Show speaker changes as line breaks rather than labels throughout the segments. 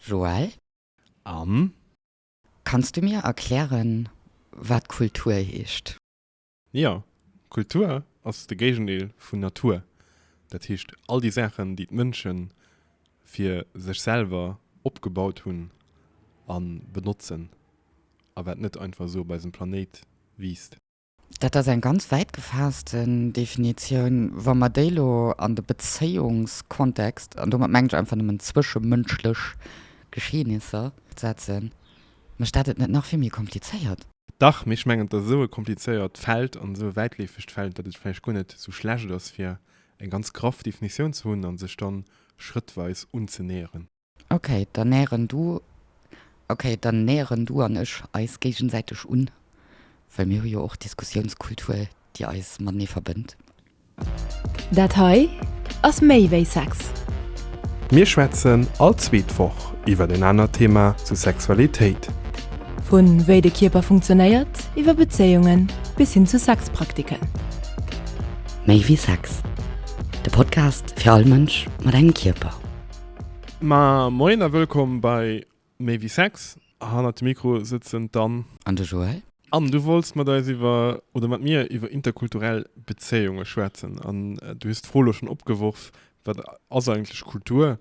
Joël? Am.
Kanns
du mir erklären, wat Kultur heescht? Jo,
Kultur ass de Géigendeel vun Natur. Dat heescht, all déi Saachen, déi d'Mënsche fir sech selwer opgebaut hunn a benotzen a wat net einfach esou op eisem Planéit wiisst. Dat ass eng
ganz wäit gefaassten Definitioun. Wa mer déi elo an de Bezéiungskontext, an domat mengen ech einfach nëmmen zwëschemënschlech Geschehnisser, setzen, mécht dat et net nach vill méi komplizéiert? Dach, mee ech mengen,
et ass esou e komplizéiert Feld an esou e wäitleefegt Feld, datt et vläicht guer net esou schlecht ass, fir eng ganz graff Definitioun ze hunn a sech da schrëttweis unzenäheren. Ok, dann
näheren du, ok, dann näheren du an ech eis géigensäiteg un, well mir hu jo och Diskussiounskultur, déi eis matenee verbënnt.
Dat hei ass méi wéi Sex. Mir
schwätzen all zweet Woch iwwer en anert Thema zu Sexualitéit. Vu
wéi de Kierper funktionéiert, iwwer Bezéiungen bis hin zu Sexpraktiken.
Méi wéi Sex, de Podcast fir all Mënsch mat engem Kierper. Ma
moien a wëllkomm bei Méi wéi Sex. Hannert dem Mikro sëtzen d'Anne. An de Joël.
Anne, du wollts mat
eis iwwer, oder mat mir iwwer interkulturell Bezéiunge schwätzen. An du hues d'Fro elo schonn opgeworf, Wat ass eigentlech Kultur?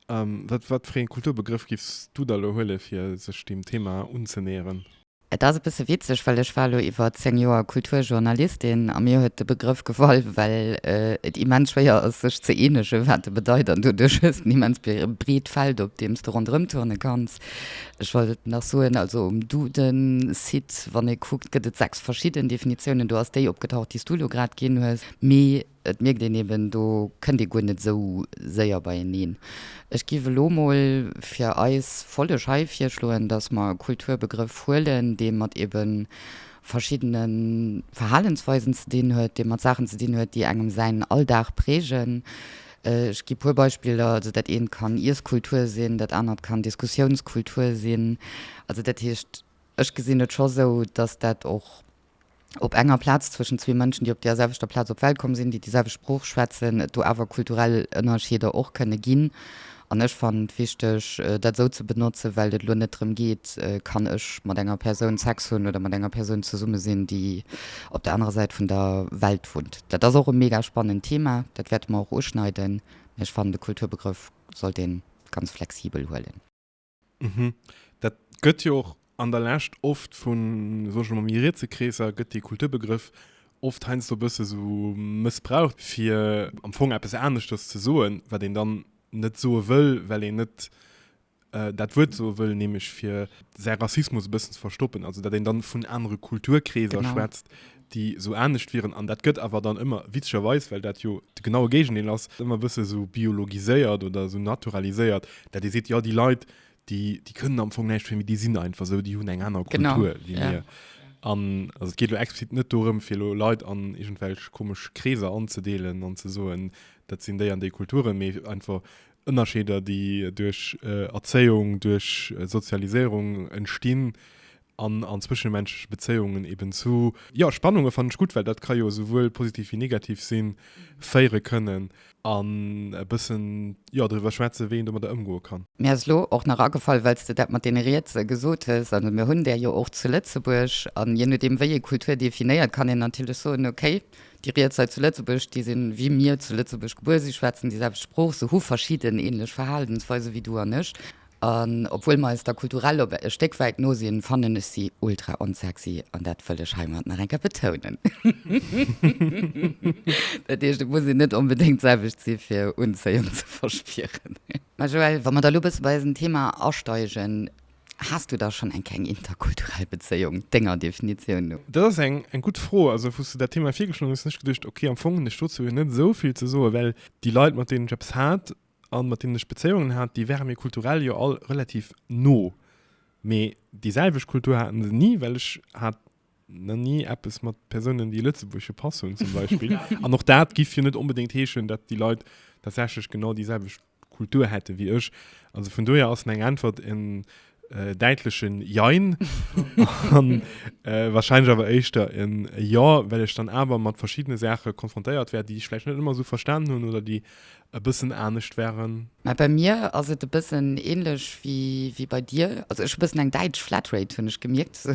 Wat, wat fir ee Kulturbegrëff giffs du da elo huelen, fir sech deem Thema unzenäheren? Et ass e bësse
witzeg, well ech war elo iwwer 10 Joer Kulturjournalistin a mir huet de Begrëff gefall, well et immens schwéier ass, sech ze eenegen, wat e bedeit. An doduerch hues de en immens breet Feld, op deem s de ronderëm turne kanns. Ech wollt nach soen, also um Duden-Site, wann ee kuckt, gëtt et sechs verschidden Definitiounen. Do ass déi opgetaucht, déi s du elo grad ginn hues. Mee. Et mierkt een eben, do kënnt ee guer net esou séier beieneen. Ech giff elo mol fir eis Folleg hei virschloen, dass mer e Kulturbegrëff huelen, dee mat ebe verschiddene Verhalensweisen ze dinn huet, dee mat Saachen ze dinn huet, déi engem säin Alldag prägen. Ech gi puer Beispiller, Also dat eent kann Iesskultur sinn, dat anert kann Diskussiounskultur sinn. Also dat heescht, ech gesinn et scho sou, dass dat och. op enger Plaz zwëschen zwee Mënschen, déi op deer selwechter Plaz op d'Welt komm sinn, déi déi selwecht Sprooch schwätzen, et do awer kulturell Ënnerscheeder och kënne ginn. An ech fannen et wichteg, dat esou ze benotzen, well et elo net drëm geet, Kann ech mat enger Persoun Sex hunn oder mat enger Persoun zesumme sinn, déi op der anerer Säit vun der Welt wunnt? Dat ass och e mega spannend Thema, dat wäerte mer och uschneiden, mä ech fannen, de Kulturbegrëff sollt ee ganz flexibel huelen. Mhm.
Dat gëtt jo och an der Lescht oft vun, soen ech mol, méi rietse Kreesser gëtt dee Kulturbegrëff oft heiansdo e bësse sou mëssbraucht, fir am Fong eppes aneschters ze soen, wat een dann net soe wëll, well een net dat Wuert soe wëll, nämlech fir säi Rassismus e bëssen ze verstoppen, also datt een dann vun anere Kulturkreeser schwätzt. Genau. déi esou anescht wieren, an dat gëtt awer dann ëmmer, witzegerweis, well dat jo de genaue Géigendeel ass, ëmmer e bësse sou biologiséiert oder sou naturaliséiert, dat ee seet, jo déi Leit, déi, déi kënnen am Fong näischt fir, mee déi sinn einfach esou, déi hunn eng aner Kultur wéi mir. Genau, ja. An also et geet elo explizit net dorëm, fir elo Leit an iergendwelch komesch Kreeser anzedeelen an ze soen, dat sinn déi an déi Kulturen, mee einfach Ënnerscheeder, déi duerch Erzéiung, duerch Sozialiséierung entstinn, an an zwëschenmenschleche Bezéiungen eben zu, jo, Spannunge fannen ech gutt, well dat ka jo souwuel positiv wéi negativ sinn, féiere kënnen an e bëssen, jo, driwwer schwätzen, wéi een domadder ëmgoe kann. Mir ass elo och nach
agefall, well s de dat mat deene Rietse gesot hues, also mir hunn där jo och zu Lëtzebuerg an je nodeem wéi ee Kultur definéiert, kann een natierlech soen, okay, déi Riets hei zu Lëtzebuerg, déi sinn, wéi mir zu Lëtzebuerg gebuer sinn, schwätzen déi selwecht Sprooch, se hu verschidden änlech Verhalensweise wéi du an ech. An obwuel mer eis da kulturell op e Stéck wäit no sinn, fannen ech si ultra onsexy an dat wëll ech heimat nach eng Kéier betounen. Dat heescht, et muss een net onbedéngt d'selwecht si fir Unzéiung ze verspieren. Ma Joëlle, wa mer da lo bësse bei eisen Thema asteigen, Has du da schonn eng Kéier eng interkulturell Bezéiung, denger Definitioun no? Dat ass eng
gutt Fro. Also wou s du dat Thema virgeschloen hues, hunn ech geduecht, okay, am Fong hunn ech dozou jo net esou vill ze soen, well déi Leit, mat deenen ech eppes hat, an mat deenen ech Bezéiungen hat, déi ware mir kulturell jo all relativ no, mee déi selwecht Kultur haten se ni, well ech hat na ni eppes mat Persounen, déi e lëtzebuergesche Pass hunn zum Beispill. An och dat giff jo net onbedéngt heeschen, datt déi Leit tatsächlech genau déi selwecht Kultur hätte wéi ech. Also vun dohier ass meng Äntwert en Äh, däitlechen Jein an äh, wahrscheinlich awer éischter en Jo, well ech dann awer mat verschiddene Saache konfrontéiert wär, déi ech vläicht net ëmmer sou verstanen hunn oder déi e bëssen anescht wären. Mä bei mir ass
et e bëssen ähnlech wéi, wéi bei dir. Also ech hu bëssen eng däitsch Flatrate, hunn ech gemierkt.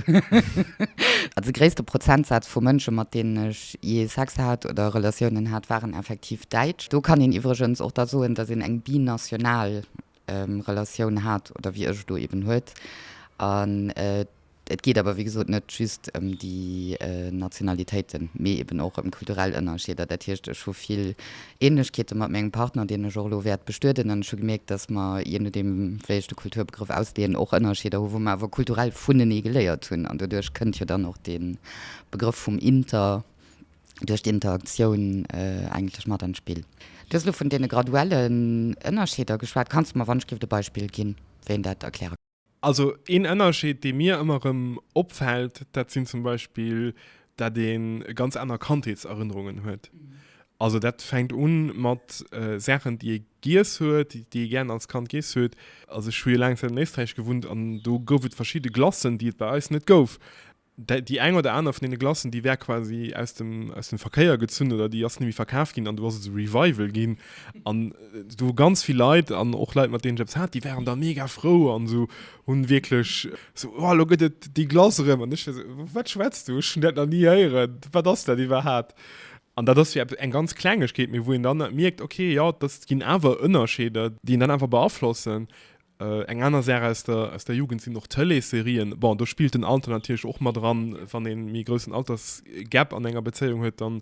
Also de gréisste Prozentsaz vu Mënsche, mat deenen ech jee Sex hat oder Relatiounen hat, waren effektiv däitsch. Do kann een iwwregens och da soen, datt een eng binational Relatioun hat oder wéi ech elo eben huet. An et geet awer wéi gesot net just ëm déi Nationalitéiten, mee eben och ëm kulturell Ënnerscheeder. Dat heescht, ech hu vill Ähnlechkeete mat mengem Partner, deen ech och elo wäert bestueden. An ech hu gemierkt, dass mer, je nodeem wéi ech de Kulturbegrëff ausleeën, och Ënnerscheeder hu wou mer awer kulturell vunenee geléiert hunn. An doduerch kënnt jo dann och dee Begrëff vum Inter. duerch d'Interaktioun eigentlech mat an d'Spill. Du hues elo vun deene graduellen Ënnerscheeder geschwat. Kanns du mer wannschgéft e Beispill ginn, wéi een dat erkläre kann? Also een
Ënnerscheed, dee mir ëmmer erëm opfält, dat sinn zum Beispill, dat ee ganz aner Kandheetserënnerungen huet. Also dat fänkt u mat Saachen, déi ee giess huet, déi ee gär als Kand giess huet. Also ech hu jo laang Zäit an Éisträich gewunnt an do gouf et verschidde Glacen, déi et bei eis net gouf. Déi eng oder aner vun deene Glacen, déi war quasi aus dem, aus dem Verkéier gezunn oder déi ass nimmi verkaf ginn an do ass et e Revival ginn. An do hu ganz vill Leit an och Leit, mat deenen ech eppes hat, déi waren da mega frou an esou, hunn wierklech esou, Oh, elo gëtt et déi Glace erëm. An ech war esou, Wat schwätz du? Ech hunn dat nach ni héieren. Wat ass dat iwwerhaat? An dat ass jo eppes, eng ganz Klengegkeet, mee wou een dann mierkt, Okay, jo, dat ginn awer Ënnerscheeder, déi een dann awer beaflossen. Eng aner Saach aus der Jugend sinn och Tëleesserien. Bon, do spillt den Alter natierlech och mat eran. Wann ee méi groussen Altersgap an enger Bezéiung huet, dann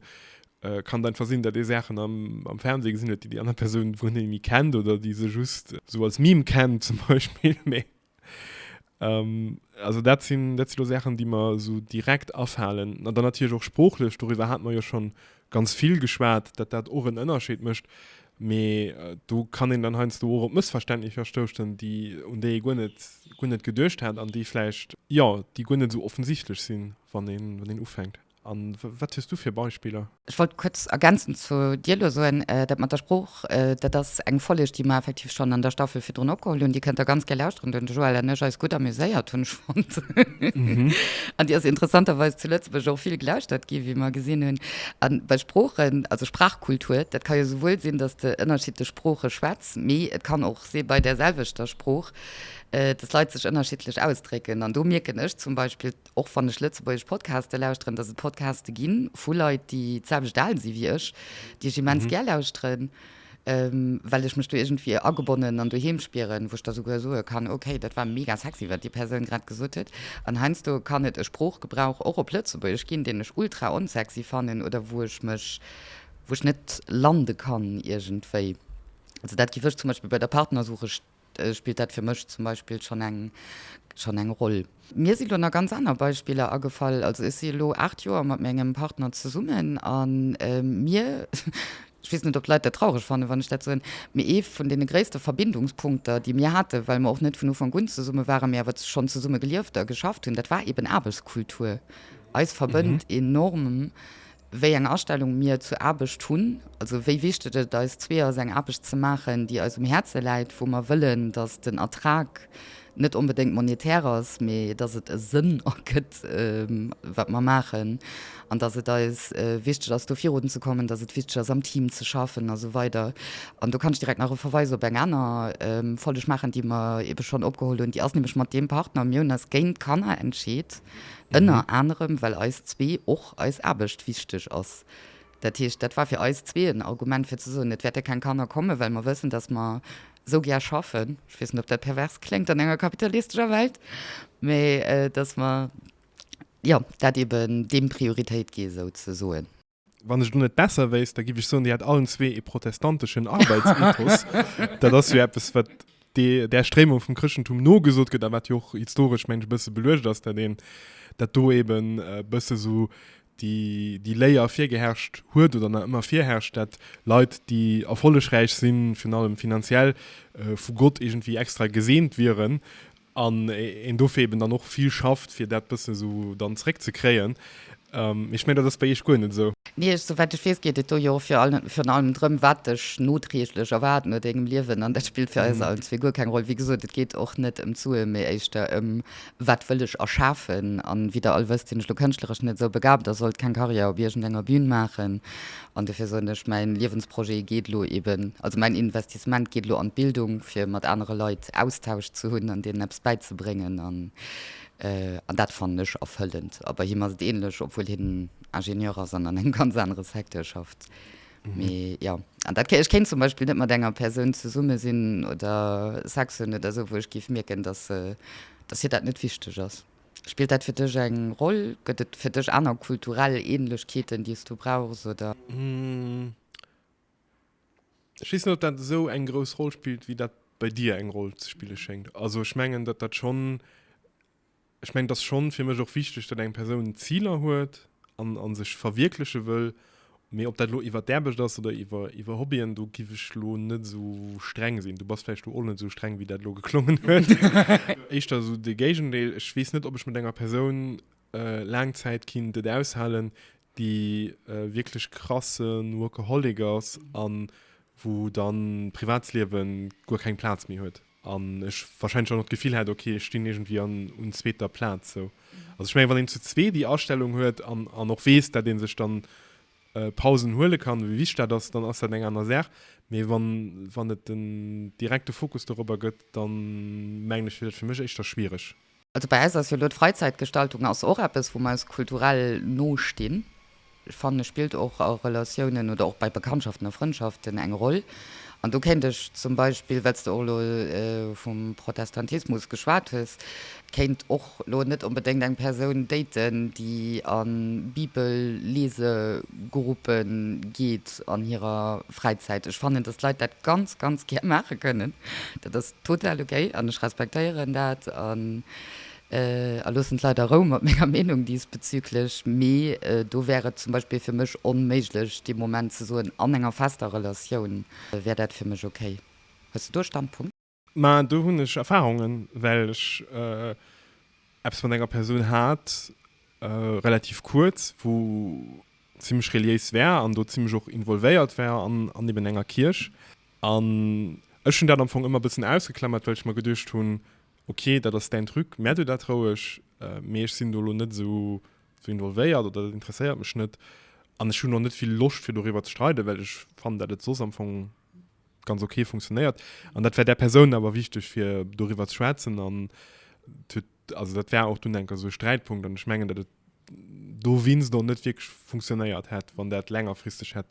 kann et einfach sinn, datt ee Saachen am Fernseh gesinn huet, déi déi aner Persoun wuel net méi kennt oder déi se just esou als Meme kennt zum Beispill. Mee also dat si lo Saachen, déi mer esou direkt afalen. An dann natierlech och sproochlech, doriwwer hate mer jo scho ganz vill geschwat, datt dat och en Ënnerscheed mécht, Mee do kann een dann heiansdo och op Mëssverständnicher stouschen, déi, un déi ee guer net, guer net geduecht hat an déi vläicht, jo, déi guer net esou offensichtlech sinn, wann een, wann een ufänkt. A wat hues du fir Beispiller? Ech wollt kuerz
ergänzend zu dir elo soen, dat mat der Sprooch, dat ass eng Folleg, déi mer effektiv schonn an der Staffel virdrun opgeholl hunn. Déi kënnt der ganz gär lauschteren, do hunn de Joël an ech eis gutt amuséiert, hunn ech fonnt. An déi ass interessanterweis zu Lëtzebuerg och vill gelauschtert ginn, wéi mer gesinn hunn. A bei Sproochen, also Sprachkultur, dat ka jo souwuel sinn, dass de ënnerschiddlech Sprooche schwätz, mee et kann och si bei där selwechter Sprooch, dass Leit sech ënnerschiddlech ausdrécken. An do mierken ech zum Beispill, och wann ech lëtzebuergesch Podcaste lauschteren, dass et Podcaste gi vu Leit, déi d'selwecht al si wéi ech, déi ech immens gär lauschteren. well ech mech do iergendwéi agebonnen an doheem spieren, wou ech da souguer soe kann, ok, dat war mega sexy, wat déi Persoun grad gesot huet. An heiansdo kann et e Sproochgebrauch och op Lëtzebuergesch ginn, deen ech ultra onsexy fannen oder wou ech mech, wou ech net lande kann iergendwéi. Also dat giff ech zum Beispill bei der Partnersuche spillt dat fir mech zum Beispill schonn eng schonn eng Roll. Mir sinn elo nach ganz aner Beispiller agefall. Also ech si elo 8 Joer mat mengem Partner zesummen a mir, ech weess net, ob d'Leit dat traureg fannen, wann ech dat soen, mee ee vun deene gréisste Verbindungspunkter, déi mir haten, well mer och net vun Ufank un zesumme waren, mee awer schonn zesumme gelieft a geschafft hunn, dat war eeben Aarbechtskultur. Eis verbënnt enorm wéi eng Astellung mir zur Aarbecht hunn, also wéi wichteg et eis zwee ass, eng Aarbecht ze maachen, déi eis um Häerze läit, wou mer wëllen, dass den Ertrag net onbedéngt monetär ass, mee dass et e Sënn ergëtt, wat mer maachen, an dass et eis wichteg ass, do virun ze kommen, dass et wichteg ass, am Team ze schaffen a sou weider. An do kann ech direkt nach e Verweis op eng aner Folleg maachen, déi mer eebe schonn opgeholl hunn. Déi ass nämlech mat deem Partner, mir hunn eis géint Kanner entscheet, ënner anerem, well eis zwee och eis Aarbecht wichteg ass. Dat heescht, dat war fir eis zwee en Argument fir ze soen, et wäerte keng Kanner kommen, well mer wëssen, dass mer esou gär schaffen, ech weess net, ob dat pervers kléngt an enger kapitalistescher Welt, mä dass mer, jo, dat eeben deem Prioritéit gi souzesoen. Wann ech elo net
besser wéisst, da giff ech soen, Dir hätt allen zwee ee protestanteschen Arbeitsethos. Dat ass jo eppes, wat dee där Stréimung vum Chrëschtentum nogesot gëtt a wat jo och historesch, mengen ech, e bësse beluecht ass, dat een, dat do eben e bësse sou déi, déi Léier virgeherrscht huet oder nach ëmmer virherrscht, dat Leit, déi erfollegräich sinn, virun allem finanziell, vu Gott iergendwéi extra geseent wieren an een dofir eben dann och vill schafft, fir dat bësse sou dann zréckzekréien. Mee ech mengen, dat ass bei Iech guer net esou. Nee, souwäit ech weess, geet
et do jo virun allem drëm, wat dech notrieglech erwaart no dengem Liewen. An dat spillt fir eis allen zwee guer keng Roll. Wéi gesot, et geet och net ëm d'Suen, mee éischter ëm, Wat wëll ech erschafen? An wéi der all wësst, sinn ech elo kënschtleresch net esou begabt a sollt keng Karriär op iergendenger Bün maachen. An dofir soen ech, Mäin Liewensprojet geet elo eeben, also mäin Investissement geet elo an d'Bildung, fir mat anere Leit Austausch ze hunn an deenen eppes bäizebréngen. An dat fannen ech erfëllend. A bei him ass et ähnlech, obwuel hien Ingenieur ass an an engem ganz anere Secteur schafft. Mee jo, an dat, ech kéint zum Beispill net mat enger Persoun zesumme sinn oder Sex hunn oder esou, wou ech géif mierken, dass se, dass hir dat net wichteg ass. Spillt dat fir dech eng Roll? Gëtt et fir dech aner kulturell Ähnlechkeeten, déi s du brauchs, oder?
Ech weess net, ob dat esou eng grouss Roll spillt, wéi dat bei dir eng Roll ze spille schéngt. Also ech mengen, datt dat schonn, ech mengen, et ass schonn fir mech och wichteg, datt eng Persoun Ziler huet an, an sech verwierkleche wëll. Mee ob dat elo iwwer d'Aarbecht ass oder iwwer, iwwer Hobbyen, do giff ech elo net esou streng sinn. Du bass vläicht do och net esou streng, wéi dat elo geklongen huet. Éischter esou de Géigendeel. Ech weess net, ob ech mat enger Persoun laang Zäit kinnt et aushalen, déi wierklech krasse Workaholic ass an wou dann d'Privatsliewe guer keng Plaz méi huet an ech wahrscheinlech och nach d'Gefill hätt, ok ech stinn iergendwéi an un zweeter Plaz sou. Also ech mengen, wann een zu zwee déi Astellung huet an an och weess, dat ee sech dann Pausen huele kann, wéi wichteg dat ass, dann ass dat eng aner Saach. Mee wann wann et en direkte Fokus dorobber gëtt, da mengen ech, wier dat fir mech éischter schwiereg. Also bei eis ass jo elo
d'Freizeitgestaltung ass och eppes wou mer eis kulturell no stinn. Ech fannen spillt och a Relatiounen oder och bei Bekanntschaften a Frëndschaften eng Roll. An do kéint ech zum Beispill, well s de och elo vum Protestantismus geschwat hues, kéint och elo net onbedéngt eng Persoun daten déi a Bibellesegruppe geet an hirer Fräizäit. Ech fannen, dass d'Leit dat ganz, ganz gär maache kënnen. Dat ass total okay an ech respektéieren dat a loossen d'Leit a Rou mat menger Meenung diesbezüglech. Mee do wär et zum Beispill fir mech onméiglech, dee Moment ze soen, an enger fester Relatioun wär dat fir mech okay. Hues de do e Standpunkt? Mä do hunn ech
Erfahrungen, well ech eppes mat enger Persoun hat, relativ kuerz, wou zimmlech reliéis war an do zimmlech och involvéiert war an eben enger Kierch. An ech hunn dat am Fong ëmmer e bëssen ausgeklammert, well ech mer geduecht hunn, ok, dat ass däin Truc, mär duer dat roueg, mee ech sinn do elo net esou involvéiert oder dat interesséiert mech net. An ech hunn och net vill Loscht, fir doriwwer ze streiden, well ech fannen, dat et soss am Fong ganz okay funktionéiert an dat wär der Persoun awer wichteg fir doriwwer ze schwätzen an also dat wär auch du denker so Sträitpunkt an schmengen dat do wins do net wirklich funktionéiert hätt wann dat längerfristig hätt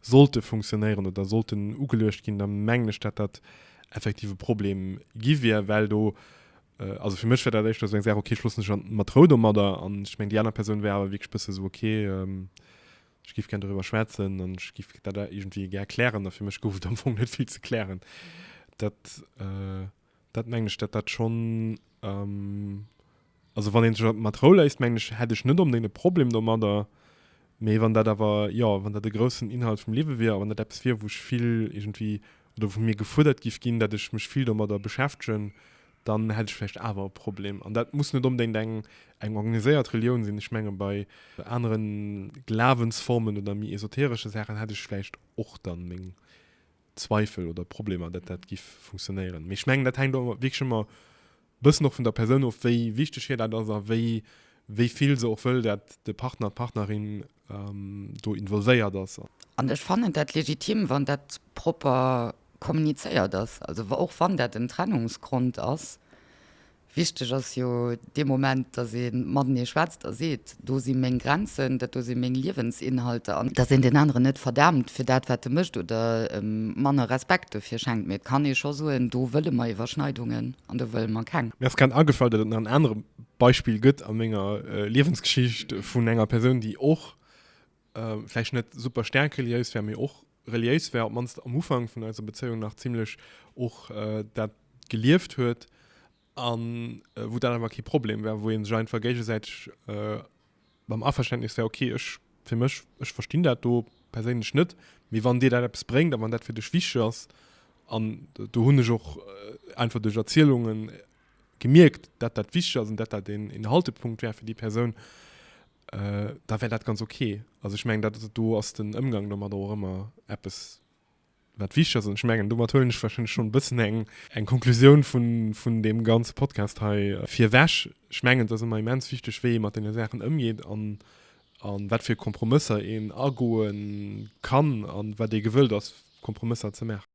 sollte funktionieren oder sollten ugeluecht ginn der mengglech dat dat effektive Problem gi wier well do äh, also für mech dat echt eng sehr okay schlussen schon mat Rou do mat der an schmeng die aner Person wär wirklich bësse so okay ähm, Ech giff gär doriwwer schwätzen an ech giff dat iergendwéi gär klären a fir mech gouf et am Fong net vill ze klären. Dat, dat mengen ech, dat dat schonn, also wann een sech dat mat Rou léisst, mengen ech, hätt ech net onbedéngt e Problem domadder. Mee wann dat awer, jo, wann dat e groussen Inhalt vum Liewe wier a wann dat eppes wier, wou ech vill iergendwéi oder wou mir gefuerdert giff ginn, datt ech mech vill domadder beschäftegen, dann hätt ech vläicht awer e Problem. An dat muss net onbedéngt eng, eng organiséiert Relioun sinn. Ech menge bei anere Glawensformen oder méi esoteresche Saachen hätt ech vläicht och dann meng Zweifel oder Problemer, datt dat giff funktionéieren. Mee ech mengen, dat hänkt awer wierklech ëmmer e bëssen och vun der Persoun of, wéi wichteg hir dat ass a wéi, wéi vill se och wëll, datt de Partner, d'Partnerin, do involvéiert ass. An ech fannen dat
legitim, wann dat propper kommunizéiert ass, also och wann dat en Trennungsgrond ass. Wichteg ass jo dee Moment, dass ee matenee schwätzt a seet, do si meng Grenzen, dat do si meng Liewensinhalter, an dass een deen aneren net verdaamt fir dat, wat e mécht oder em manner Respekt dofir schenkt. Mee et kann ee scho soen, do wëlle mer Iwwerschneidungen an do wëlle mer keng. Mir ass grad agefall, datt et nach
en anere Beispill gëtt a menger Liewensgeschicht vun enger Persoun, déi och vläicht net super staark reliéis war, mee och reliéis war, op d'mannst am Ufank vun eiser Bezéiung nach zimlech och dat gelieft huet, a wou dat awer kee Problem war, wou ee sech einfach géigesäiteg am Averständnis war, ok, ech fir mech, ech verstinn dat do perséinlech net, mee wann dir dat eppes bréngt a wann dat fir dech wichteg ass, an do hunn ech och einfach duerch Erzielungen gemierkt, dat dat wichteg ass an dat dat een, een Haltepunkt wär fir déi Persoun, äh, da wär dat ganz ok. Also ech mengen, dat, do ass den Ëmgang domadder och ëmmer eppes, wat wichteg ass. An ech mengen, domat huelen ech warscheinlech schonn e bëssen eng, eng Konklusioun vun, vun deem ganze Podcast hei virweg. Ech mengen, et ass ëmmer immens wichteg, wéi ee mat deene Saachen ëmgeet an, a wat fir Kompromësser een agoe kann a wat ee gewëllt ass, Kompromësser ze maachen.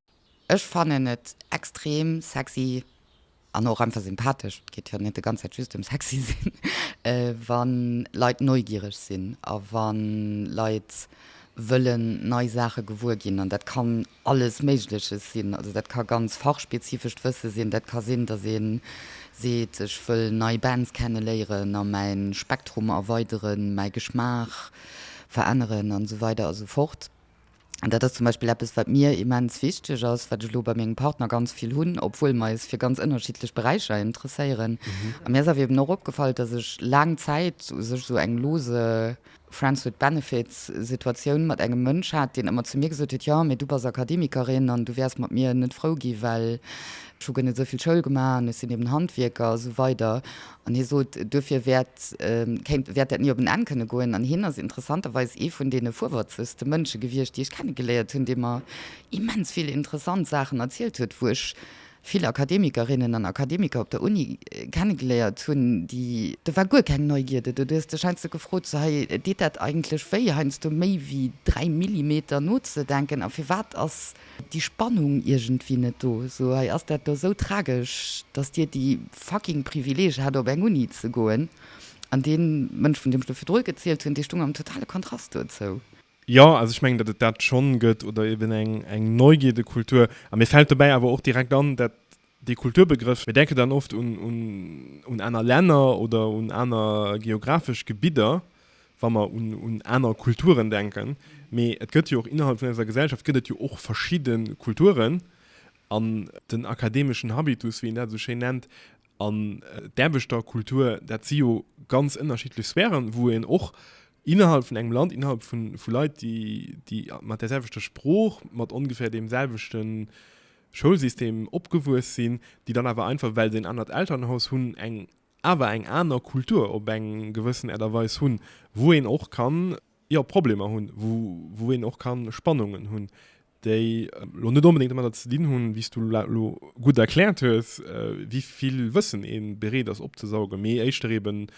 Ech fannen
et extrem sexy an och einfach sympathesch, et geet jo net de ganz Zäit just em sexy sinn, wa Leit neugiereg sinn a wa Leit wëllen nei Saache gewuer ginn. An dat kann alles Méigleches sinn. Also dat ka ganz fachspezifescht Wësse sinn, dat ka sinn, dass ee seet, ech wëll nei Bands kenneléieren a mäin Spektrum erweideren, mäi Geschmaach veränneren an esou weider a sou fort. An dat ass zum Beispill eppes, wat mir immens wichteg ass, wat ech elo bei mengem Partner ganz vill hunn, obwuel mer eis fir ganz ënnerschiddlech Beräicher interesséieren. A mir ass awer eben och opgefall, dass ech laang Zäit u sech esou eng lose Friends with benefits Situatioun mat engem Mënsch hat, deen ëmmer zu mir gesot huet, Jo, mee du bass Akademikerin an du wäers mat mir net frou gi well ech hu guer net esou vill Schoul gemaach an ech sinn eben Handwierker a sou weider. An hie sot, duerfir wäert dat ni op en Enn kënne goen. An hien ass interessanterweis ee vun deene fuerwërzegste Mënsche gewiescht, déi ech kennegeléiert hunn, dee mer immens vill interessant Saachen erzielt huet, wou ech vill Akademikerinnen an Akademiker op der Uni kennegeléiert hunn, déi. Do war guer keng Neugierde do. Du hues dech heiansdo gefrot, sou, hei, deet dat eigentlech wéi, heiansdo méi wéi dräi Millimeter nozedenken? A firwat ass. Déi Spannung iergendwéi net do. Sou, hei ass dat do sou tragesch, dass Dir déi fucking Privileeg hat op eng Uni ze goen, an dee Mënsch, vun deem ech do virdrun gezielt hunn, dee stung am totale Kontrast dozou. Jo, also ech mengen,
datt et dat schonn gëtt, oder eben eng Neugierde-Kultur. A mir fält dobäi awer och direkt an dat Dee Kulturbegrëff, mir denken dann oft un aner Länner oder un aner geographesch Gebidder, wa mer un aner Kulturen denken. Mee et gëtt jo och innerhalb vun eiser Gesellschaft gëtt et jo och verschidde Kulturen. An den akademeschen Habitus, wéi een dat esou schéin nennt, an d'Aarbechterkultur, dat si jo ganz ënnerschiddlech Sphären, wou een och innerhalb vun engem Land, innerhalb vu Leit, déi mat där selwechter Sprooch, mat ongeféier deem selwechte Schoulsystem opgewuess sinn, déi dann awer einfach, well se en anert Elternhaus hunn, eng awer eng aner Kultur op eng gewëssen Äert a Weis hunn, wou een och kann, jo, Problemer hunn, wou een och kann Spannungen hunn, déi elo net onbedéngt domadder ze dinn hunn, wéi s Du elo gutt erkläert hues, wéi vill Wëssen ee bereet ass opzesaugen, mee éischter eeben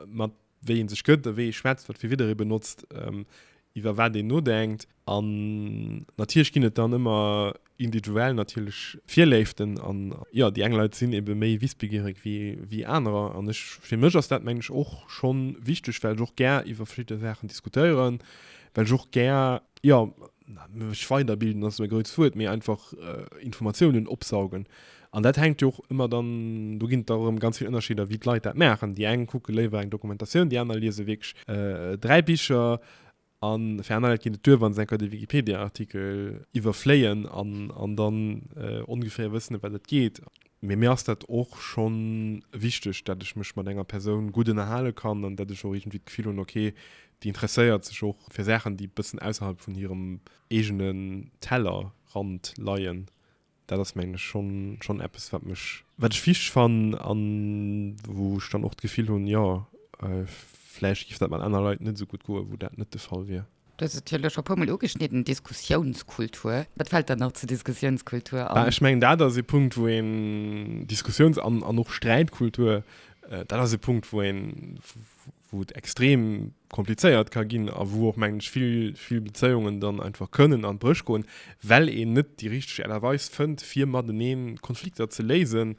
mat wéi ee sech gëtt, wéi ee schwätzt, wat fir Wieder ee benotzt, iwwer wat een nodenkt. An natierlech ginn et dann ëmmer individuell natierlech Virléiften. An jo, déi eng Leit sinn ebe méi wissbegiereg wéi anerer. An ech, fir mech ass dat, mengen ech, och scho wichteg, well ech och gär iwwer verschidde Saachen diskutéieren, well ech och gär, jo, mech weiderbilden ass e grousst Wuert, mee einfach Informatiounen opsaugen. An dat hänkt jo och ëmmer dann, do ginn et da erëm ganz vill Ënnerscheeder, wéi d'Leit dat maachen. Déi eng kucke léiwer eng Dokumentatioun, déi aner liese wierklech dräi Bicher a fir aner Leit geet et duer, wa se eng Kéier de Wikipedia-Artikel iwwerfléien an dann ongeféier wëssen, ëm wat et geet. Mee mir ass dat och scho wichteg, datt ech mech mat enger Persoun gutt ënnerhale kann an datt ech och iergendwéi d'Gefill hunn, ok, déi interesséiert sech och fir Saachen, déi e bëssen ausserhalb vun hirem eegene Tellerrand leien. Dat ass, mengen ech, schonn eppes, wat mech, wat ech wichteg fannen an wou ech dann och d'Gefill hunn, jo, vläicht géif dat mat aner Leit net esou gutt goen, wou dat net de Fall wier. Du hues et jo elo scho e puer
Mol ugeschnidden, Diskussiounskultur. Wat fält der nach zur Diskussiounskultur an? Ech mengen, dat ass ee Punkt,
wou een Diskussiouns an och Sträitkultur, dat ass ee Punkt, wou een, wou et extrem komplizéiert ka ginn a wou och, mengen ech, vill, vill Bezéiungen dann einfach kënnen an d'Bréch goen, well een net déi richteg Aart a Weis fënnt, fir matenee Konflikter ze léisen.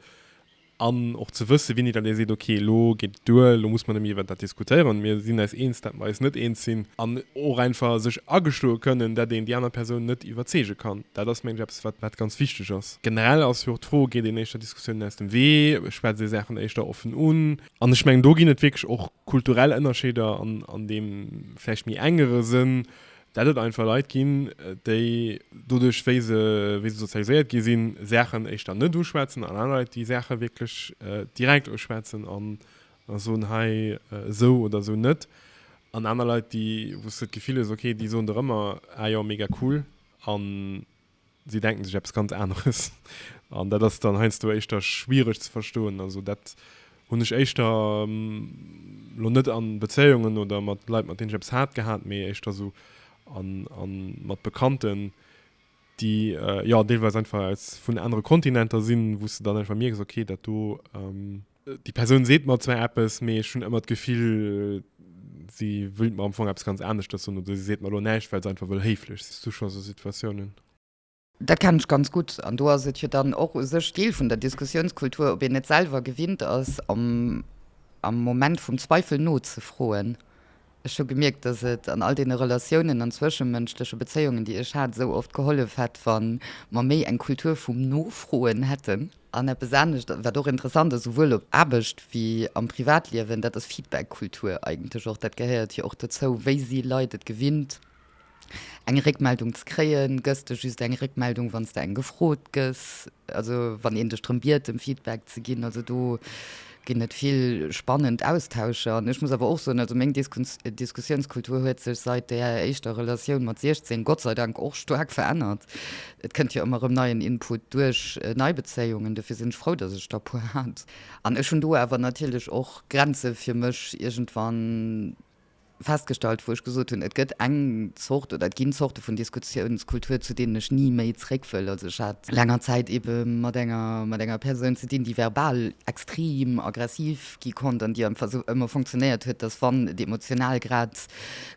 An och ze wësse wien et ass, dee seet, ok elo geet et duer, elo muss mer net méi iwwer dat diskutéieren, mir sinn eis eens, dat mer eis net eens sinn. An och einfach sech ageschloe kënnen, dat een déi aner Persoun net iwwerzeege kann. Dat ass mengen ech eppes wat wat ganz wichteg ass. Generell ass jo och d'Fro, geet een éischter Diskussiounen aus dem Wee, schwätzt ee Saachen éischter offen un. An ech mengen do ginn et wierklech och kulturell Ënnerscheeder an an deem vläicht méi engere Sënn, Dat et einfach Leit ginn, déi doduerch, wéi se sozialiséiert gi sinn, Saachen éischter net uschwätzen, an aner Leit, déi Saache wierklech direkt uschwätzen a soen, hei esou oder esou net. An aner Leit, wou s de d'Gefill hues, okay, déi soen der ëmmer, ah jo, mega cool. Si denken sech eppes ganz aneres. An dat ass dann heiansdo éischter schwiereg ze verstoen. Also dat hunn ech éischter lo net a Bezéiungen oder mat Leit, mat deenen ech eppes hat, gehat, mee éischter esou a mat Bekannten, déi jo deelweis einfach aus vun anere Kontinenter sinn, wou s de dann einfach mierks, okay, dat do. Déi Persoun seet mer zwar eppes, mee ech hunn ëmmer d'Gefill, si wëllt mer am Fong eppes ganz aneschtes soen oder si seet mer elo näischt, well se einfach wëll héiflech sinn. Hues du scho esou Situatiounen? Dat
kennen ech ganz gutt. An do ass et jo dann och u sech Deel vun der Diskussiounskultur, ob een net selwer gewinnt ass, am Moment vum Zweifel nozefroen. Ech hu gemierkt, dass et an all deene Relatiounen an zwëschemënschleche Bezéiungen, déi ech hat, esou oft gehollef hätt, wa mer méi eng Kultur vum Nofroen hätten. An eppes anescht, wat och interessant ass, souwuel op Aarbecht wéi am Privatliewen, dat ass Feedback-Kultur eigentlech och. Dat gehéiert jo och dozou, wéi si Leit et gewinnt, Eng Réckmeldung ze kréien, gëss de just eng Réckmeldung, wann s de eng gefrot gëss, also wann een dech drëm biet, em Feedback ze ginn. Also do ginn et vill spannend Austauscher. An ech muss awer och soen, also meng Diskussiounskultur huet sech seit där éischter Relatioun mat 16 Gott sei Dank och staark verännert. Et kënnt jo ëmmer rëm neien Input duerch nei Bezéiungen, dofir sinn ech frou, datt ech der e puer hat. An ech hunn do awer natierlech och Grenze fir mech iergendwann. festgestallt, wou ech gesot hunn, et gëtt eng Zort oder et ginn Zorte vun Diskussiounskultur, zu deenen ech ni méi zréck wëll. Also ech hat no laanger Zäit ebe mat enger, mat enger Persoun ze dinn, déi verbal extrem aggressiv gi konnt an déi einfach sou ëmmer funktionéiert huet, dass wann et emotional grad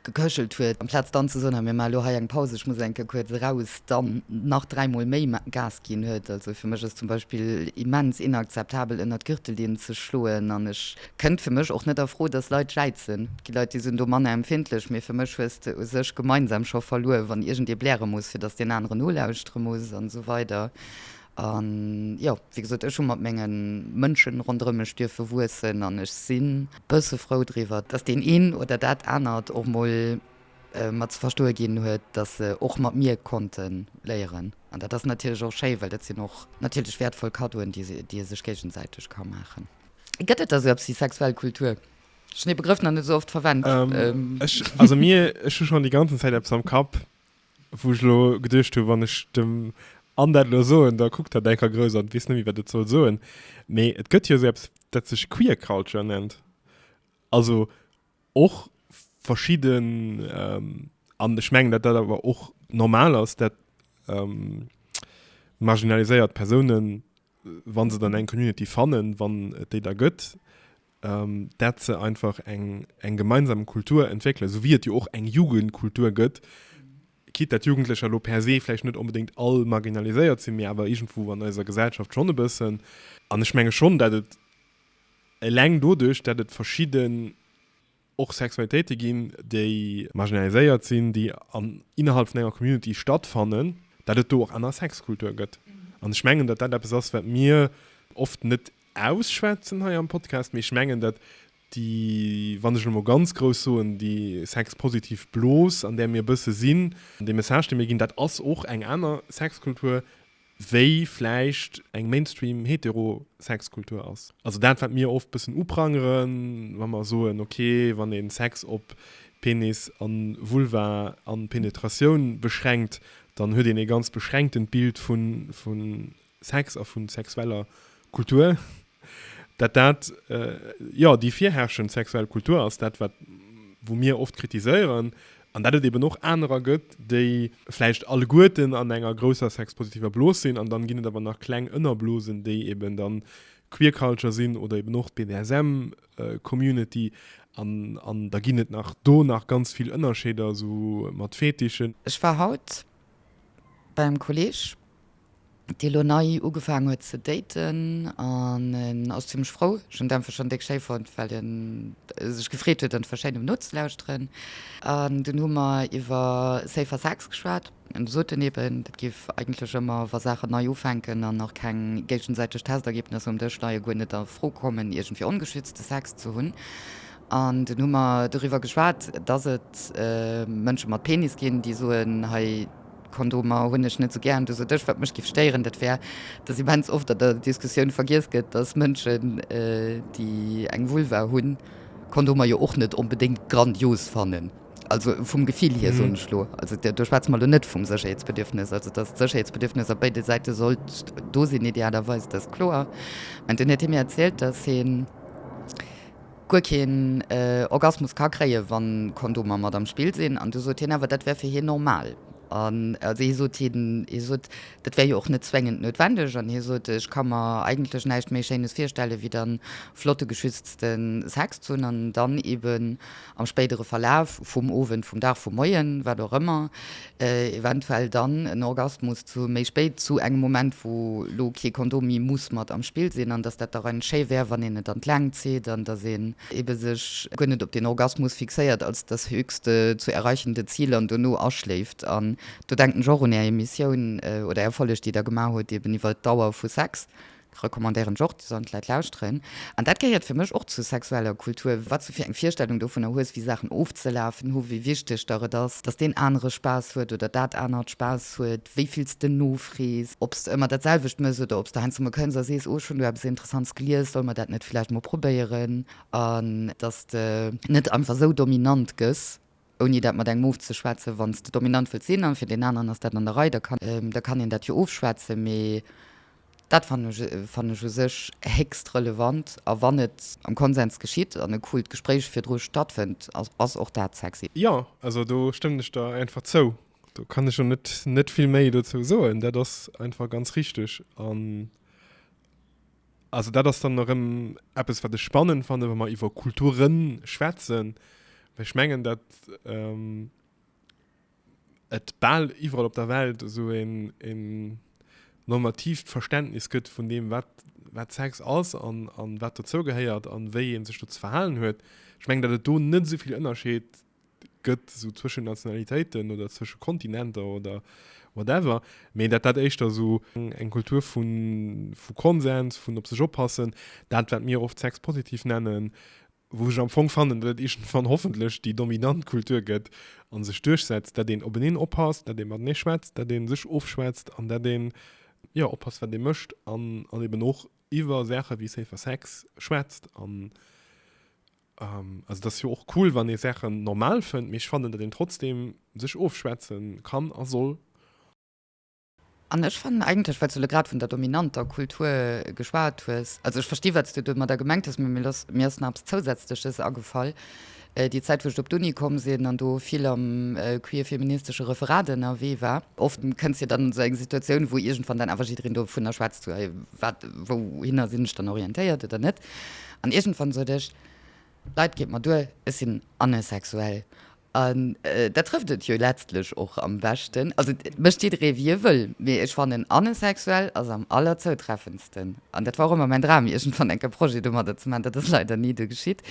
geköchelt huet, amplaz dann ze soen, hei mir maache lo hei eng Paus, ech muss eng Kéier kuerz eraus, dann nach dräi Mol méi Gas ginn huet. Also fir mech ass zum Beispill immens inakzeptabel ënnert d'Gürtellinn ze schloen an ech Kënnt fir mech och net a Fro, dass Leit jäizen. Et gi Leit, déi sinn do manner empfindlech, mee fir mech hues de u sech gemeinsam scho verluer, wann iergendee bläre muss, fir dass deen anere nolauschtere muss an esou weider. A jo, wéi gesot, ech hu mat menge Mënschen ronderëm mech duerfe wuessen an ech si bësse frou driwwer, dass deen een oder dat anert och mol mer ze verstoe ginn huet, dass se och mat mir konnte léieren. An dat ass natierlech och schéi, well dat sinn och natierlech wäertvoll Kaddoen, déi ee sech géigesäiteg ka maachen. Gëtt et da sou eppes wéi sexuell Kultur? Ech hunn dee Begrëff nach net esou oft verwennt. Ech, also mir,
ech hu schonn déi ganzen Zäit eppes am Kapp, wou ech elo geduecht hu wann ech dem Anne dat elo soen, da kuckt hatt enker grouss an weess net méi, wat et soll soen. Mee et gëtt jo sou eppes, dat sech Queer Culture nennt. Also och verschidden, an ech mengen, datt dat awer och normal ass, dat marginaliséiert Persounen wann se dann eng Community fannen, wann et déi da gëtt, ähm, dat se einfach eng, eng gemeinsam Kultur entwéckle, esou wéi et jo och eng Jugendkultur gëtt, quitte dat Jugendlecher lo per se vläicht net onbedéngt all marginaliséiert sinn, mee awer iergendwou an eiser Gesellschaft schonn e bëssen. An ech menge schonn, dat et eleng doduerch, dat et verschidde. och Sexualitéite ginn, déi marginaliséiert sinn, déi an innerhalb vun enger Community stattfannen, dat et do och aner Sexkultur gëtt. An ech mengen, datt dat eppes ass, wat mir oft net ausschwätzen hei am Podcast, mee ech mengen, datt déi, wann ech elo mol ganz grouss soen, déi sexpositiv Blos, an där mir e bësse sinn, dee Message, dee mir ginn, dat ass och eng aner Sexkultur, wéi vläicht eng Mainstream-Hetero-Sex-Kultur ass. Also dat, wat mir oft bëssen uprangeren, wa mer soen, ok, wann ee Sex op Penis a Vulva a Penetratioun beschränkt, dann huet een ee ganz beschränktent Bild vu Sex a vu sexueller Kultur. Dat dat, jo, déi virherrschend sexuell Kultur ass, dat wat, wou mir oft kritiséieren, an dat et eben och anerer gëtt, déi vläicht alleguerten an enger grousser sexpositiver Blos sinn, an dann ginn et awer nach kleng Ënnerblosen, déi eben dann d'Queer Culture sinn oder eben och d'BDSM Community, an, an da ginn et nach do nach ganz vill Ënnerscheeder, esou mat Fetischen. Ech war haut
bei engem Kolleeg, déi elo nei ugefaang huet ze daten an en ass zimmlech frou, ech hunn d'Äntwert schonn déck schéi fonnt well en sech gefreet huet an verschéin um nozelauschteren an dunn hu mer iwwer safer Sex geschwat an du sot en eben dat géif eigentlech ëmmer wa Saachen nei ufänken an nach keng géigesäiteg Testergebnisser um Dësch leie guer net a Fro kommen iergendwéi ongeschützte Sex ze hunn an dunn hu mer doriwwer geschwat dass et Mënsche mat Penis ginn déi soen hei Kondomer hunn ech net esou gären. Du sot ech, wat mech giff stéieren, dat wär, dass immens oft an der Diskussioun vergiess gëtt, dass Mënschen, déi eng Vulva hunn, Kondomer jo och net onbedéngt grandios fannen. Also vum Gefill hier, soen ech elo. Also do schwätze mer elo net vum Sécherheetsbedürfnis. Also dass d'Sécherheetsbedürfnis op béide Säite sollt do sinn, idealerweis, dat ass kloer. Mä dann huet hie mir erzielt, dass hien, guer keen Orgasmus ka kréie wa Kondomer mat am Spill sinn, an du sot hien awer dat wär fir hien normal, an also hie sot hien, hie sot dat wär jo och net zwéngend noutwendeg, an hie sot ech ka mer eigentlech näischt méi schéines virstelle wéi dann flotte geschützte Sex ze hunn, an dann eben am spéidere Verlaf vum Owend, vum Dag, vum Moien, wat och ëmmer. eventuell dann en Orgasmus zu méi spéit, zu engem Moment wou lo kee Kondom méi muss mat am Spill sinn, an dass dat dach eigentlich schéi wär wann een et an d'Längt zitt an dass een ebe sech guer net op den Orgasmus fixéiert als das höchste zu erreichende Ziel an dono aschléift. An do denken ech och un är Emissioun oder är Folleg déi der gemaach hutt eben iwwer d'Dauer vu Sex, Recommandéieren ech och, sollen d'Leit lauschteren. An dat gehéiert fir mech och zur sexueller Kultur, wat s du fir eng Virstellung dovunner hues, wéi Saachen ofzelafen hu, wéi wichteg der et ass, dass deen anere Spaass huet oder dat anert Spaass huet, wéi vill s de nofrees, ob s de ëmmer dat selwecht mëss oder ob s de heiansdo mol kënns a sees, oh, ech hunn do eppes Interessants gelies, solle mer dat net villäicht mol probéieren? An dass de net einfach esou dominant gëss. ouni dat mat engem ofzeschwätzen, wann s de dominant wëlls sinn an fir deen aneren ass dat an der Rei, da kann een dat jo ofschwätzen, mee dat fannen ech u sech héchst relevant a wann et am Konsens geschitt an e coolt Gespréich virdru stattfënnt, ass och dat sexy. Jo, also do
stëmmen ech der einfach zou. Do kann ech jo net vill méi dozou soen, dat ass einfach ganz richteg. Also dat ass dann erëm eppes, wat ech spannend fanne wa mer iwwer Kulture schwätzen, well ech mengen, datt ähm, et bal iwwerall op der Welt esou een een normatiivt Verständnis gëtt vun deem, wat wat Sex ass an an wat dozou gehéiert an wéi ee sech do ze verhalen huet. Ech mengen, datt et do net esou vill Ënnerscheed gëtt, esou zwëschen Nationalitéiten oder zwësche Kontinenter oder whatever, mee dat dat éischter esou eng Kultur vu Konsens, vun op sech oppassen, dat wat mir oft Sex positif nennen, wou ech am Fong fannen, datt et iergendwann hoffentlech déi dominant Kultur gëtt a sech duerchsetzt, datt een openeen oppasst, datt ee matenee schwätzt, datt ee sech ofschwätzt an datt een, jo, oppasst wat ee mécht an eben och iwwer Saache wéi safer Sex schwätzt an Um, also das jo och cool, wann ee Sachen normal fënnt, mee ech fannen, datt een trotzdem sech ofschwätzen kann a soll.
An ech fannen eigentlech, well s du elo grad vun der dominanter Kultur geschwat hues, also ech versti wat s du domadder gemengt hues, mee mir ass, mir ass nach eppes Zousätzleches agefall, déi Zäit wou ech op d'Uni komm sinn an do vill am queer-feministesche Referat ënnerwee war, oft kënns de dann an esou eng Situatioun, wou iergendwann dann awer jiddereen dovunner schwätzt, so, hey, wat, wouhinner sinn ech dann orientéiert oder net? An iergendwann sot ech, Leit, geet mer duer, ech sinn anesexuell. An dat trëfft et jo letztlech och am beschten. Also et mécht jidderee wéi e wëll, mee ech fannen anesexuell ass am allerzoutreffendsten. An dat war och ëmmer mäin Dram, iergendwann enk e Projet domadder ze maachen. Dat ass leider ni duer geschitt.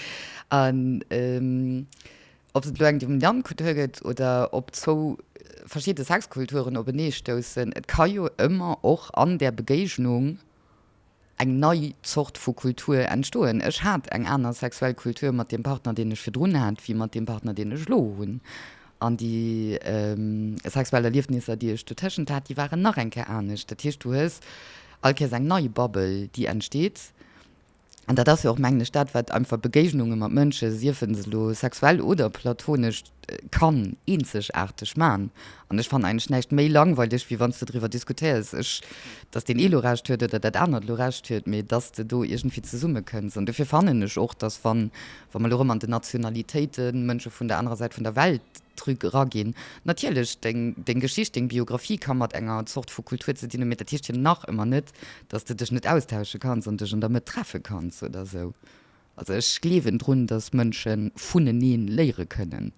An ob se et elo eng dominant Kultur gëtt oder ob zwou verschidde Sexkulturen openeestoussen, et ka jo ëmmer och an där Begéignung eng nei Zort vu Kultur entstoen. Ech hat eng aner sexuell Kultur mat deem Partner, deen ech virdrun hat, wéi mat deem Partner, deen ech elo hunn. An déi sexuell Erliefnisser, déi ech dotëschent hat, déi waren nach eng Kéier anescht. Dat heescht, du hues all Kéiers eng nei Bubble, déi entsteet. An dat ass jo och, mengen ech, dat, wat einfach Begéignunge mat Mënsche, siefen se elo sexuell oder platonesch, kann eenzegaarteg man an ech fannen eigentlech näischt méi langweileg wéi wann s de driwwer diskutéiers ech datt deen ee lo Recht huet oder dat anert lo Recht huet mee datt s de do iergendwéi zesummekënns an dofir fannen ech och datt wann wa mer elo erëm an den Nationalitéite Mënsche vun der anerer Säit vun der Welt drück eraginn natierlech deng deng Geschicht deng Biographie ka mat enger Zort vu Kultur ze dinn hunn mee dat heescht jo nach ëmmer net datt s de dech net austausche kanns an dech an der Mëtt treffe kanns oder esou. Also ech gleewen drun, dass Mënsche vunenee léiere kënnen.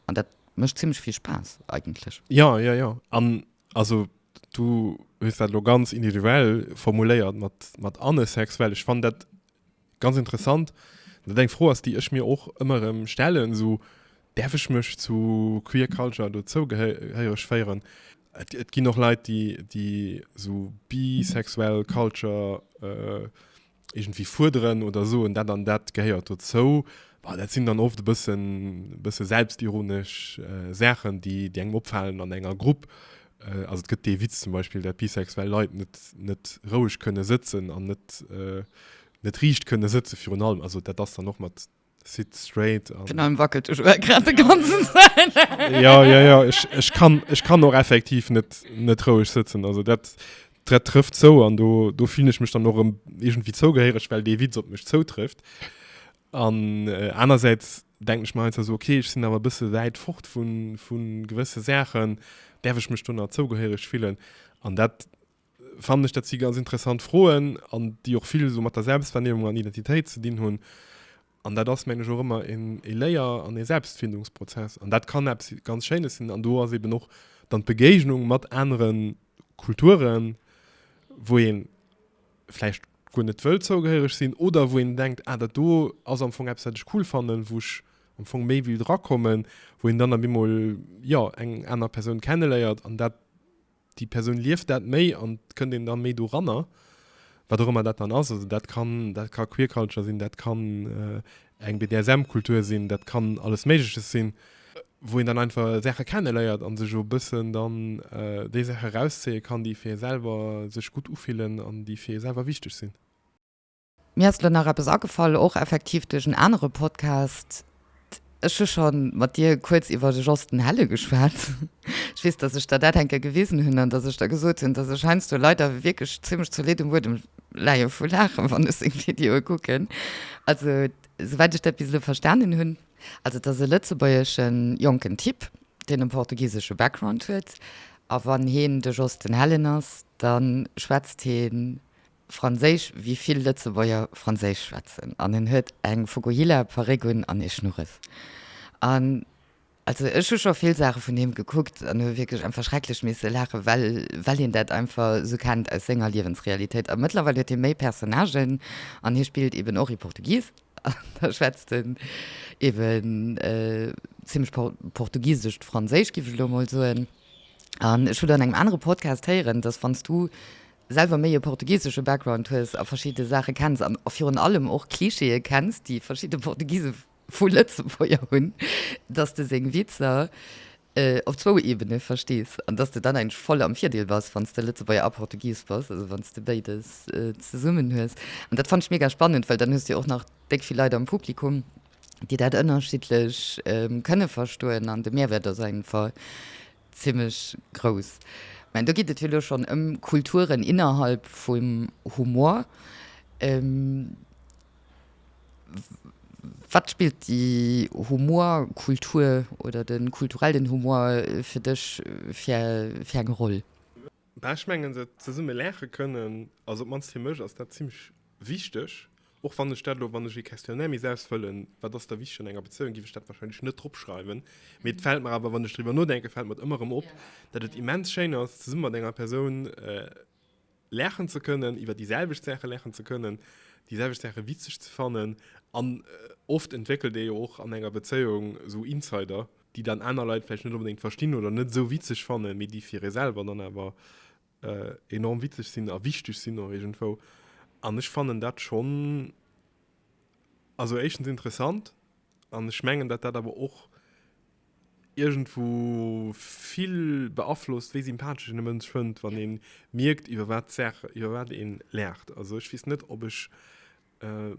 An dat mécht zimlech vill Spaass eigentlech. Ja, ja, ja. An
also du hues dat elo ganz individuell formuléiert mat, mat anesexuell. Ech fannen dat ganz interessant. Dat eng Fro ass, déi ech mir och ëmmer erëm stellen, esou, Däerf ech mech zu Queer Culture dozougehéiereg féieren? Et, et ginn och Leit, déi, déi esou bisexuell Culture. irgendwie fuerderen oder soen, dat an dat gehéiert dozou. Boah, dat sinn dann oft e bëssen, bësse selbstironesch äh, Saachen, déi, déi engem opfalen an enger Grupp. Äh, also et gëtt dee Witz zum Beispiel, dat bisexuell Leit net, net roueg kënne sëtzen an net, äh, net riicht kënne sëtzen virun allem. Also dat ass dann och mat Sit straight. Den Arm wackelt du schon
grad de ganzen Zeit. ja, ja, ja. Ich,
ich, kann, ich kann auch effektiv net, net ruhig sitzen. Also dat, dat trifft so an do, do fühle ich mich dann noch irgendwie zougehörig, weil de Witz op mich zoutrifft. An äh, einerseits denke ich mal so, okay, ich sind aber ein bisschen weit fort von, von gewisse Sachen, darf ich mich dann auch zougehörig fühlen. An dat Fannen ech dat si ganz interessant Froen an déi och vill esou mat der Selbstwahrnehmung an Identitéit ze dinn hunn. An dat ass meng ech och ëmmer en e Léier an e Selbstfindungsprozess. An dat kann eppes ganz Schéines sinn. An do ass eben och dann d'Begéignung mat anere Kulturen, wou ee vläicht guer net wëll zougehéiereg sinn oder wou een denkt, ah dat do ass am Fong eppes wat ech cool fannen, wou ech am Fong méi will drakommen, wou een dann op eemol jo eng aner Persoun kenneléiert an dat. déi Persoun lieft dat méi an et kënnt een da méi doranner, wat och ëmmer dat dann ass. Also dat kann, dat ka Queer Culture sinn, dat kann eng BDSM-Kultur sinn, dat kann alles Méigleches sinn, wou een dann einfach Saache kenneléiert a sech o bëssen dann déi Saache rauszéie kann, déi fir ee selwer sech gutt ufillen an déi fir ee selwer wichteg sinn. Mir
ass elo nach eppes agefall, och effektiv duerch en anere Podcast. Ech hu scho mat dir kuerz iwwer de Jos den Helle geschwat. Ech weess, datt ech der dat enker gewisen hunn an datt ech der gesot hunn, datt ech heiansdo leider wierklech zimlech zolidd um Buedem leie vu Laachen, wann ech seng Videoe kucken. Also, souwäit ech dat bis elo verstanen hunn. Also, et ass e lëtzebuergesche jonken Typ, deen e portugisesche Background huet. A wann heen de Jos den Hellen ass, da schwätzt hee. Franséisch, wéi vill Lëtzebuerger Franséisch schwätzen, an en huet eng Fukuhila-Paréck un an ee Schnurres. An also ech hu scho vill Saache vun him gekuckt an hu wierklech einfach schrecklech misse laachen, well, well een dat einfach esou kennt aus senger Liewensrealitéit. A mëttlerweil huet hie méi Personnagen an hie spillt eben och ee Portugies an da schwätzt en eben zimmlech por, portugisescht Franséisch, giff ech elo emol soen. An ech hu dann an engem anere Podcast héieren, dass wann s du selwer méi e portugisesche Background hues a verschidde Saache kenns an virun allem och Klischeeë kenns, déi verschidde Portugise vu Lëtzebuerger hunn, dass de seng Witzer op zwou Ebene verstees an dass de dann eigentlech voll am Virdeel bass, wann s de Lëtzebuerger a Portugis bass, also wann s de béides zesummen hues. An dat fannt ech mega spannend, well dann hues de jo och nach déck vill Leit am Publikum, déi dat ënnerschiddlech kënne verstoen an de Mehrwäert ass auf jeden Fall Zimlech grouss. Mä do geet et jo elo schonn ëm Kulturen innerhalb vum Humor. Wat spillt déi Humorkultur oder de kulturellen Humor fir dech fir fir eng Roll? Bah, ech mengen
se zesumme laache kënnen, also op d'mannst fir mech ass dat zimlech wichteg, och wann ech dat elo, wann ech ee Questionnaire misst ausfëllen, wat ass der wichteg an enger Bezéiung, géif ech dat wahrscheinlech net dropschreiwen. Mee et fält mer awer, wann ech driwwer nodenken, fält mer et ëmmer erëm op, datt et immens schéin ass, zesumme mat enger Persoun laachen ze kënnen, iwwer déi selwecht Saache laachen ze kënnen, déi selwecht Saache witzeg ze fannen. An oft entwéckelt ee jo och an enger Bezéiung esou Insider, déi dann aner Leit vläicht net onbedéngt verstinn oder net esou witzeg fannen, mee déi fir ee selwer dann awer enorm witzeg sinn a wichteg sinn och iergendwou. An ech fannen dat schonn, also éischtens interessant an ech mengen, datt dat awer och iergendwou vill beaflosst, wéi sympathesch een e Mënsch fënnt, wann ee mierkt, iwwer wat d'Saach, iwwer wat ee laacht. Also ech weess net, ob ech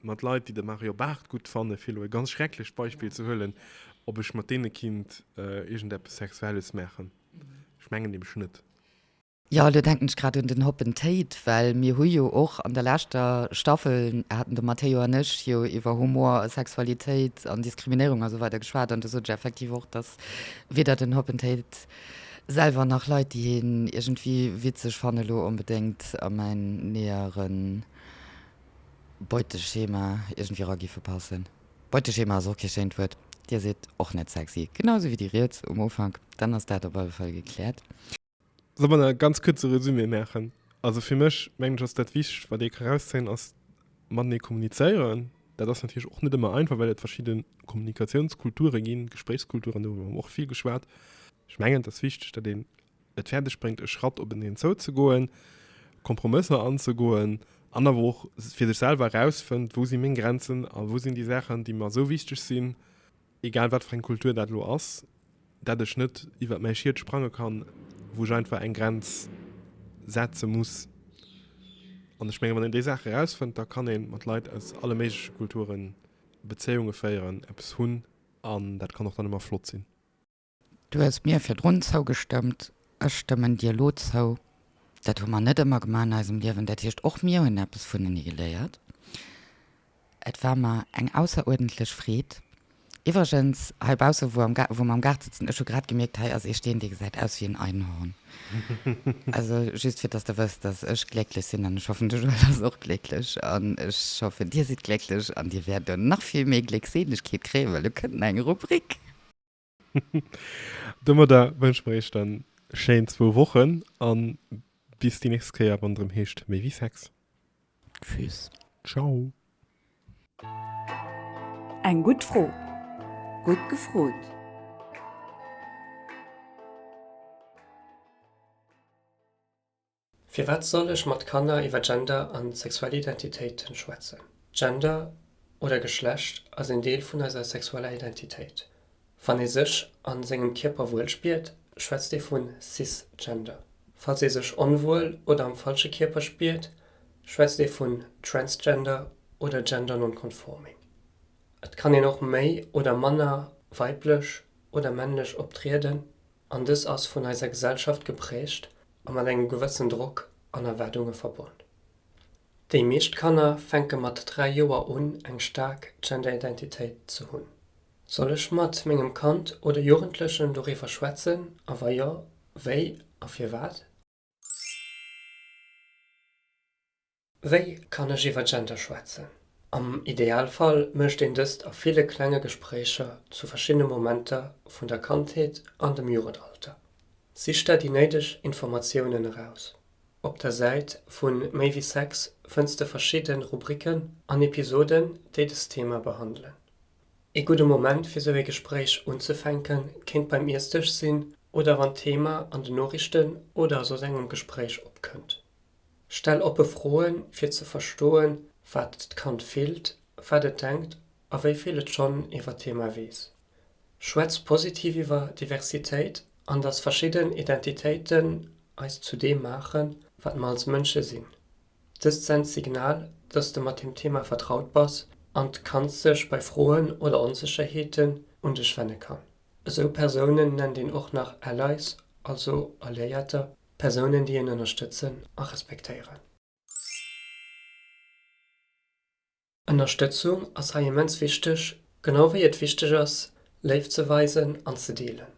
mat Leit déi de Mario Barth gutt fannen, fir elo e ganz schrecklecht Beispill ze huelen, ob ech mat deene kinnt iergend eppes Sexuelles maachen. Ech mengen nämlech net. Jo, elo
denken ech grad un den Hoppen Tate, well mir hu jo och an der leschter Staffel, haten de Matteo an ech jo iwwer Humor, Sexualitéit an Diskriminéierung a sou weider geschwat an do sot ech effektiv och, datt weder den Hoppen Tate selwer nach Leit déi hien iergendwéi witzeg fannen elo onbedéngt a mäin näheren Beuteschema iergendwéi era giffe passen. Beuteschema ass och kee schéint Wuert. Dir sidd och net sexy. Genau esou wéi déi riets um Ufank. Dann ass dat op alle Fall gekläert. Solle mer
e ganz kuerze Resumé maachen? Also fir mech, mengen ech, ass dat Wichtegst, wat ee ka erauszéien, ass matenee kommunizéieren. Dat ass natierlech och net ëmmer einfach, well et verschidde Kommunikatiounskulture ginn, Gespréichskulturen, doriwwer hu mer och vill geschwat. Ech mengen, et ass wichteg, datt een et fäerdeg bréngt, e Schratt openeen zouzegoen, Kompromësser anzegoen an awer och fir sech selwer erausfënnt, wou si meng Grenzen a wou sinn déi Saachen, déi mer esou wichteg sinn, egal wat fir eng Kultur dat elo ass, dat ech net iwwert mäi Schiet sprange kann, wou ech einfach eng Grenz setze muss. An ech menge wann een déi Saache erausfënnt, da kann ee mat Leit aus alle méigleche Kulture Bezéiunge féieren, eppes hunn an dat kann och dann ëmmer flott sinn. Du hues
mir virdrun zougestëmmt, ech stëmmen dir elo zou. Dat hu mer net ëmmer gemaach an eisem Liewen. Dat heescht, och mir hunn eppes vunenee geléiert. Et war mer eng ausseruerdentlech Freed. Iwwregens, heibausse wou am Gaart, wou mer am Gaart sëtzen, ech hu grad gemierkt, hei ass ee Steen, dee gesäit aus wéi en Einhorn. Also just fir dass de wëss, dass ech glécklech sinn an ech hoffen, de Joël ass och glécklech an ech hoffen, dir sidd glécklech an dir wäert elo nach vill méi Gléckseelegkeet kréien, well elo kënnt nach eng Rubrik.
Domadder wënsche mer iech dann schéin zwou Wochen an bis déi nächst Kéier wann et erëm heescht Méi wéi Sex. Tschüss.
Ciao.
Eng gutt Fro. Gutt gefrot.
Firwat soll ech mat Kanner iwwer Gender an sexuell Identitéiten schwätzen? Gender oder Geschlecht ass een Deel vun eiser sexueller Identitéit. Wann ee sech an sengem Kierper wuel spiert, schwätzt ee vun Cisgender. Falls ee sech onwuel oder am falsche Kierper spiert, schwätzt ee vun Transgender oder Gender Non-Conforming. Et kann een och méi oder manner weiblech oder männlech optrieden An dës ass vun eiser Gesellschaft geprägt a mat engem gewëssen Drock an Erwaardunge verbonn. Déi meescht Kanner fänke mat 3 Joer un eng staark Genderidentitéit ze hunn. Soll ech mat mengem Kand oder Jugendlechen doriwwer schwätzen a wa jo, wéi a firwat? Wéi kann ech iwwer Gender schwätzen? Am Idealfall mécht een dëst a ville klenge Gespréicher zu verschiddene Momenter vun der Kandheet an dem Jugendalter. Sich der déi néideg Informatiounen eraus. Op der Säit vu Méi wéi Sex fënns de verschidde Rubriken an Episoden, déi dëst Thema behandelen. Ee gudde Moment fir sou ee Gespréich unzefänken kéint beim Iessdësch sinn oder wann d'Thema an den Noriichten oder a soss engem Gespréich opkënnt. Stell oppe Froen fir ze verstoen, wat d'Kand fillt, wat et denkt a wéi vill et schonn iwwer d'Thema weess. Schwätz positiv iwwer Diversitéit an dass verschidden Identitéiten eis zu deem maachen, wat mer als Mënsche sinn. Dëst sent d'Signal, dass de mat dem Thema vertraut bass an d'Kand sech bei Froen oder Onsécherheeten un dech wenne kann. Esou Persounen nennt een och nach Allies, also Alliéierter, Persounen déi een ënnerstëtzen a respektéieren. Ënnerstëtzung ass hei immens wichteg, genau wéi et wichteg ass, Léift ze weisen an ze deelen.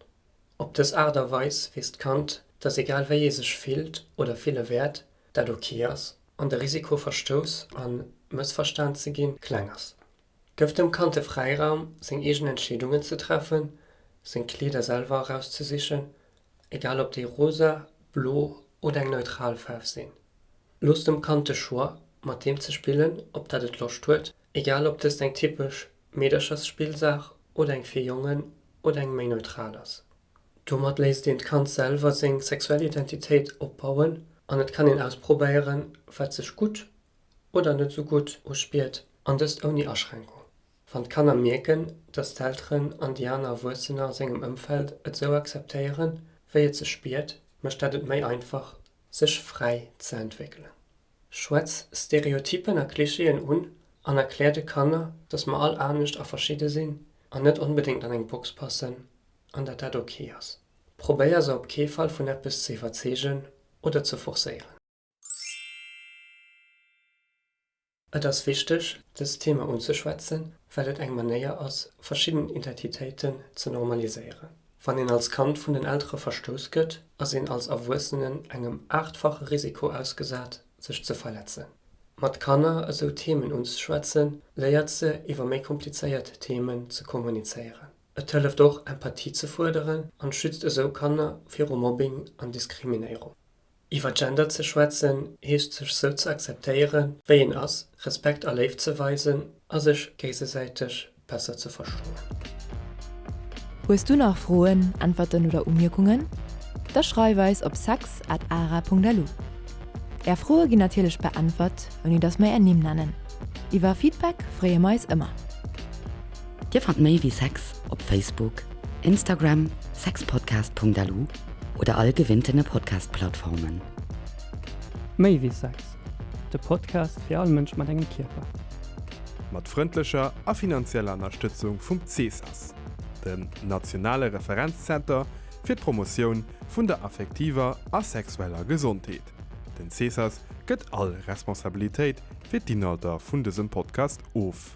Op dës Aart a Weis weess d'Kand, dass egal wéi ee sech fillt oder fille wäert, dat ok ass an de Risiko verstouss a mëssverstan ze ginn kleng ass. Gëff dem Kand de Fräiraum seng eegen Entscheedungen ze treffen, seng Kleeder selwer erauszesichen egal ob déi rosa, blo oder eng neutral Faarf sinn. Looss dem Kand de Choix, mat deem ze spillen, op dat et Loscht huet, egal ob dëst eng typesch Meederchersspillsaach oder eng fir Jongen oder eng méi neutral ass. Domat léisst een d'Kand selwer seng sexuell Identitéit opbauen an et kann een ausprobéieren, wat sech gutt oder net esou gutt uspiert, an dëst ouni Aschränkung. Wann d'Kanner mierken, dass d'Elteren an déi aner Erwuessener a sengem Ëmfeld et esou akzeptéieren, wéi et se spiert, mécht dat et méi einfach, sech fräi ze entwéckelen. Schwätz Stereotyppen a Klischeeën un an erklär de Kanner, dass mer all anescht a verschidde sinn an net onbedéngt an eng Box passen an dat dat ok ass. Probéier se op kee Fall vun eppes ze iwwerzeegen oder ze forcéieren. Et ass wichteg, dëst Thema unzeschwätzen, well et eng Manéier ass, verschidden Identitéiten ze normaliséieren. Wann een als Kand vun den Eltere verstouss gëtt, ass een als Erwuessenen engem aachtfache Risiko ausgesat, sech ze verletzen. Mat Kanner esou Themen unzeschwätzen, léiert se, iwwer méi komplizéiert Themen ze kommunizéieren. Et hëlleft och, Empathie ze fuerderen an schützt esou Kanner viru Mobbing an Diskriminéierung. Iwwer Gender ze schwätzen heescht sech sou ze akzeptéiere wéi een ass, Respekt a Léift ze weisen a sech géisesäiteg besser ze verstoen.
Hues du nach Froen, Äntwerten oder Umierkungen? Da schreif eis op sex at ara Punkt lu. Är Froe ginn natierlech beäntwert, ouni datt mer är Nimm nennen. Iwwer Feedback freeë mer eis ëmmer.
Dir fannt méi wéi sex op Facebook, Instagram, sexpodcast Punkt lu. oder all gewinnten Podcast-Plattformen.
Méi wéi Sex, de Podcast fir all Mënsch mat engem Kierper. Mat
frëndlecher a finanzieller Ënnerstëtzung vum CSAS, dem nationale Referenzzenter fir d'Promotioun vun der affektiver a sexueller Gesondheet. Den CSAS gëtt all Responsabilitéit fir d'Inhalter vun dësem Podcast of.